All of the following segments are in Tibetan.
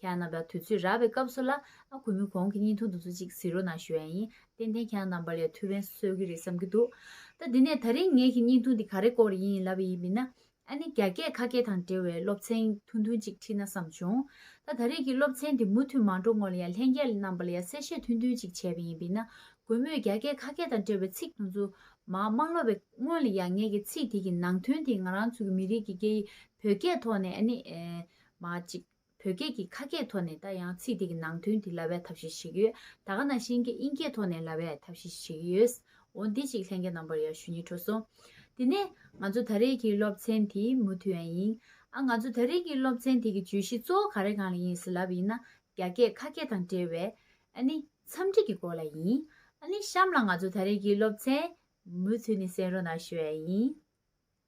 ཁྱེད་རྣམ་པ་དུས་ཚོད་རག་པའི་སྐབས་སུ་ལ་ཨ་གུས་མོས་གོང་གི་གཉིས་འཐུང་དུ་ཚོད་ཅིག་བཟི་རོགས་གནང་ཞུ་ཡ་ཡིན་ཏན་ཏན་ཁྱེད་རྣམ་པ་ལས་ཐུགས་ཕན་སོས་གི་རེད་བསམ་གི་འདུག་ད་འདི་ནས་ད་རིང་ངེད་ཀྱི་གཉིས་འཐུང་དེ་ག་རེ་སྐོར་ཡིན་ལབ་པ་ཡིན་མིན་ན་ཨ་ནི་རྒྱ་སྐད་ཁ་སྐད་དང་འབྲེལ་བའི་སློབ་ཚན་ཐུང་ཐུང་ཅིག་ཁྲིད་ན་བསམ་བྱུང་ད་ད་རེས་ཀྱི་སློབ་ཚན་དེ་མུ་མཐུད་མ་འགྲོ་སྔོན་ལ་ཡང་ལྷན་རྒྱས་རྣམ་པ་ལ་ཡང་གསལ་བཤད་ཐུང་ཐུང་ཅིག་བྱས་པ་ཡིན་མིན་ན་གུས་མོས་རྒྱ་སྐད་ཁ་སྐད་དང་འབྲེལ་བའི་ཚིག་དང་རྫུན་མ་མ་སློབ་པའི་སྔོན་ལ་ཡང་ངེད་ཀྱི་ཚིག་དེ་གི་ནང་དོན་དེ་ང་རང་ཚོ་གི་མི་རིགས་ཀྱི་སྐད་ཡིག་བོད་སྐད་ཐོག་ནས་ཨ་ནི་མ་ཅིག། བོད་སྐད་ཀྱི་ཁ་སྐད་ཐོག་ནས་ད་ཡང་ཚིག་དེ་གི་ནང་དོན་དེ་ལ་བས་ཐབས་ཤེས་བྱེད་ཀྱི་ཡོད་ད་ག་ནང་བཞིན་གྱི་དབྱིན་སྐད་ཐོག་ནས་ལ་བས་ཐབས་ཤེས་བྱེད་ཀྱི་ཡོད། འོ་འདི་གཅིག་ལྷན་རྒྱས་རྣམ་པར་ཡར་ཞུ་ཉེ་འཁྲུགས་སོང། དེ་ནས། ང་ཚོ་ད་རེས་ཀྱི་སློབ་ཚན་དེ་མུ་མཐུད་ཡང་ཡིན། ཨ་ང་ཚོ་ད་རེས་ཀྱི་སློབ་ཚན་དེ་གི་བརྗོད་གཞི་གཙོ་བོ་ག་རེ་གང་ལ་ཡིན་ཟེར་ལབ་པ་ཡིན་ན་རྒྱ་སྐད་ཁ་སྐད་དང་འབྲེལ་བའི། ཨ་ནི། འཚམས་འདྲི་གི་སྐོར་ལ་ཡིན། ཨ་ནི་གཤམ་ལ་ང་ཚོ་ད་རེས་ཀྱི་སློབ་ཚན། མུ་མཐུད་ནས་གསན་རོགས་གནང་ཞུ་བ་ཡང་ཡིན།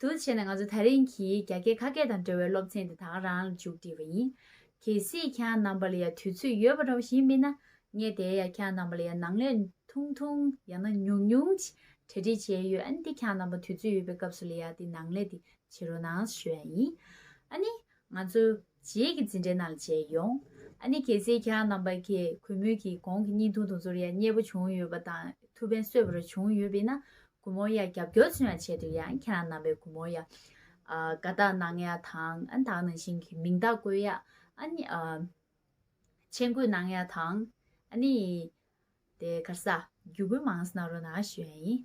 དུ་བྱས་ནས་ང་ཚོ་ཐག་རིང་གི་རྒྱ་སྐད་ཁ་སྐད་དང་འབྲེལ་བའི་སློབ་ཚན་དེ་དག་རང་ལ་མཇུག་བསྒྲིལ་བ་ཡིན། གལ་སྲིད་ཁྱེད་རྣམ་པ་ལ་ཡང་དུས་ཚོད་ཡོད་པ་འདྲ་བོ་ཞིག་མིན་ན། ངས་དེའི་ཡང་ཁྱེད་རྣམ་པ་ལ་ཡང་ནང་ལས་ཐུང་ཐུང་ཡང་ན་ཉུང་ཉུང་ཅིག་གྲ་སྒྲིག་བྱས་ཡོད་ཨ་ནི་དེ་ཁྱེད་རྣམ་པ་དུས་ཚོད་ཡོད་པའི་སྐབས་སུ་ལ་ཡང་དེ་ནང་ལས་དེ་བྱེད་རོགས་གནང་ཞུ་ཡ་ཡིན། ཨ་ནི། ང་ཚོ། རྗེས་ཀྱི་འཛིན་གྲྭའི་ནང་ལ་མཇལ་ཡོང། ཨ་ནེ་གལ་སྲིད་ཁྱེད་རྣམ་པ་ཀྱིས་གུས་མོས་ཀྱིས་གོང་གི་བརྙན་ཐུང་དང་ཚོར་ཡ་རྙེད་པོ་བྱུང་ཡོད་པ་དང་ཐུགས་ཕན་གསོས་པ་རེ་བྱུང་ཡོད་པས་ན་གུས་མོ་ཡ་རྒྱབ་སྐྱོར་ཚུན་ཡང་བྱས་འདུག་ཡང་ཁྱེད་རྣམ་པས་གུས་མོ་ཡ། དགའ་རྟགས་གནང་ཡ་དང་ཨན་དག་ནང་བཞིན་གྱི་མིང་རྟགས་བཀོད་ཡ། ཨན། མཆན་འགོད་གནང་ཡ་དང། ཨ་ནེ། དེ་གར་ས། རྒྱུ་གུས་མངས་ས་ན་རོ་ན་ཞུ་ཡ་ཡིན།